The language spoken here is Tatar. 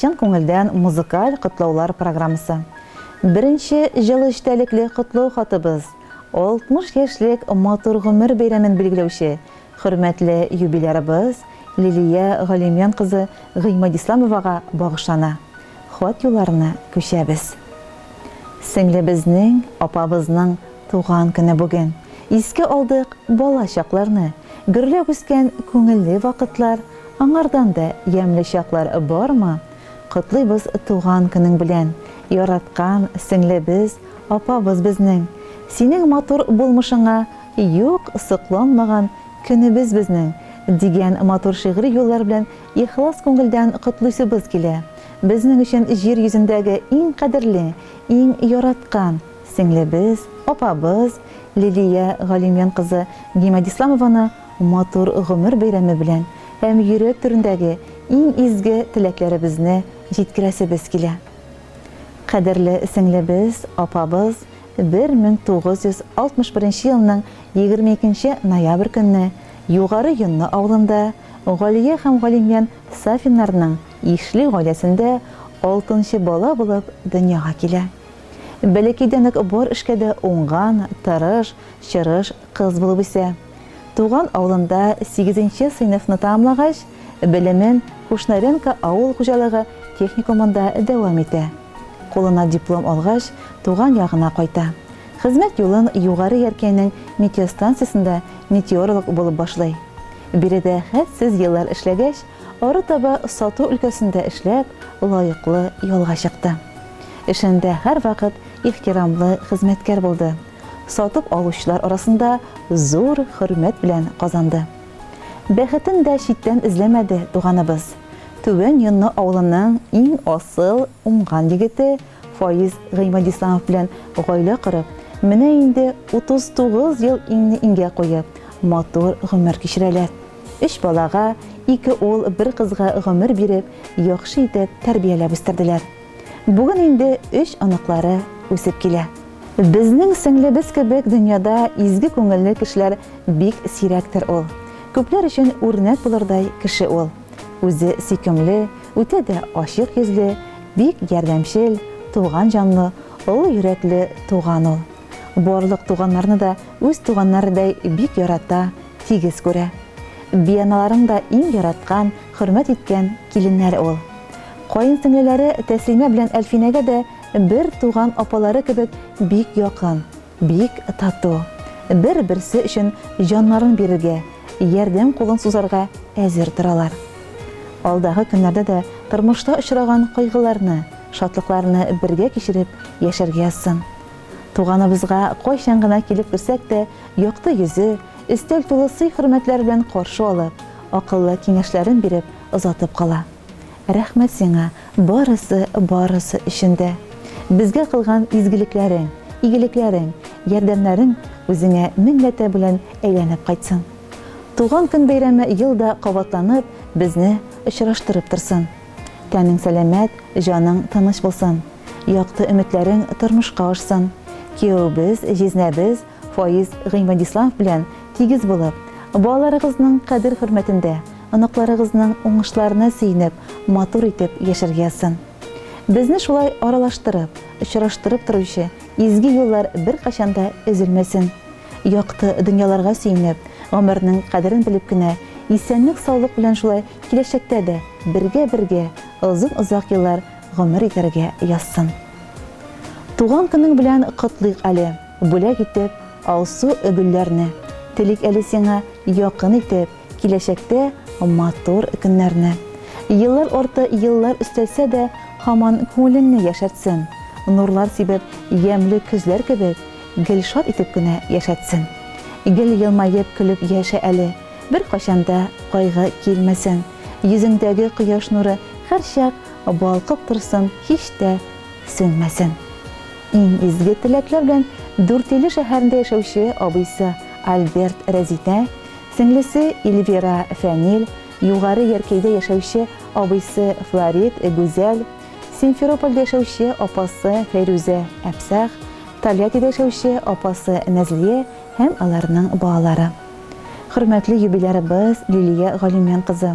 Чын күңелдән музыкаль котлаулар программасы. Беренче җылы эчтәлекле котлау хатыбыз, 60 яшьлек матур гомер бәйрәмен билгеләүче хөрмәтле юбилярыбыз Лилия Галимҗан кызы Гыймадисламовага багышлана. Хат юлларына күчәбез. Сеңлебезнең, апабызның туган көне бүген. Искә алдык бала чакларны, гөрләп үскән күңелле вакытлар, Аңардан да ямьле чаклар бармы? Котлыйбыз туган көнең белән, яраткан сеңлебез, апабыз безнең! Синең матур булмышыңа юк сокланмаган көнебез безнең! дигән матур шигъри юллар белән ихлас күңелдән котлыйсыбыз килә. Безнең өчен җир йөзендәге иң кадерле, иң яраткан сеңлебез, апабыз Лилия Галимҗан кызы Гимадисламованы Матур гомер бәйрәме белән һәм йөрәк түрендәге иң изге теләкләребезне җиткерәсебез килә. Кадерле сеңлебез, апабыз 1961 нче елның 22 нче ноябрь көнне Югары Йонны авылында Галия һәм Галимьян Сафиннарның ишле гаиләсендә алтынчы бала булып дөньяга килә. Бәләкәйдән үк бар эшкә дә уңган, тырыш, чырыш кыз булып үсә. Туган авылында сигезенче сыйныфны тәмамлагач, белемен Кушнаренко авыл хуҗалыгы техникумында дәвам итә. Кулына диплом алгач, туган ягына кайта. Хезмәт юлын Югары Яркәйнең метеостанциясендә метеоролог булып башлый. Биредә хәтсез еллар эшләгәч, арытаба сату өлкәсендә эшләп, лаеклы ялга чыкты. Эшендә һәрвакыт ихтирамлы хезмәткәр булды. сатып алучылар арасында зур хөрмәт белән казанды. Бәхетен дә читтән эзләмәде туганыбыз. Түбән Йонны авылының иң асыл, уңган егете Фаиз Гыймадисламов белән гаилә корып, менә инде 39 ел иңне-иңгә куеп, матур гомер кичерәләр. Өч балага, ике ул, бер кызга гомер биреп, яхшы итеп тәрбияләп үстерделәр. Бүген инде өч оныклары үсеп килә. Безнең сеңлебез кебек дөньяда изге күңелле кешеләр бик сирәктер ул. Күпләр өчен үрнәк булырдай кеше ул. Үзе сөйкемле, үтә дә ачык йөзле, бик ярдәмчел, туган җанлы, олы йөрәкле туган ул. Барлык туганнарны да үз туганнарыдай бик ярата, тигез күрә. Бианаларың да иң яраткан, хөрмәт иткән киленнәр ул. Каенсеңлеләре Тәслимә белән Әлфинәгә дә бер туган апалары кебек бик якын, бик тату. Бер-берсе өчен җаннарын бирергә, ярдәм кулын сузарга әзер торалар. Алдагы көннәрдә дә тормышта очраган кайгыларны, шатлыкларны бергә кичереп яшәргә язсын. Туганыбызга кайчан гына килеп керсәк тә, якты йөзе, өстәл тулы сый-хөрмәтләр белән каршы алып, акыллы киңәшләрен биреп озатып кала. Рәхмәт сиңа барысы, барысы өчен дә! Безгә кылган изгелекләрең, игелекләрең, ярдәмнәрең үзеңә меңләтә белән әйләнеп кайтсын! Туган көн бәйрәме ел да кабатланып, безне очраштырып торсын! Тәнең сәламәт, җаның тыныч булсын! Якты өметләрең тормышка ашсын! Кияүебез, җизнәбез, Фаиз Гыймадислав белән тигез булып, балаларыгызның кадер-хөрмәтендә, оныкларыгызның уңышларына сөенеп, матур итеп яшәргә язсын. Безне шулай аралаштырып, очраштырып торучы изге юллар беркайчан да өзелмәсен. Якты дөньяларга сөенеп, гомернең кадерен белеп кенә, исәнлек-саулык белән шулай киләчәктә дә бергә-бергә озын-озак еллар гомер итәргә язсын. Туган көнең белән котлыйк әле! Бүләк итеп алсу гөлләрне. Телик әле сиңа якын итеп, Киләчәктә матур көннәрне. Еллар арты еллар өстәлсә дә, Һаман күңелеңне яшәртсен. Нурлар сибеп, ямьле көзләр кебек, Гел шат итеп кенә яшәтсен. Гел елмаеп, көлеп яшә әле, Беркайчан да кайгы килмәсен. Йөзеңдәге кояш нуры һәрчак Балкып торсын, һич тә сүнмәсен. Иң изге теләкләр белән Дүртөйле шәһәрендә яшәүче абыйсы Альберт Рәзитә, сеңлесе Ильвира Фәнил, Югары Яркәйдә яшәүче абыйсы Флорид Гүзәл, Симферопольдә яшәүче апасы Фәйрүзә Әпсах, Тольяттида яшәүче апасы Нәзлия һәм аларның балалары. Хөрмәтле юбилярыбыз Лилия Галимян кызы!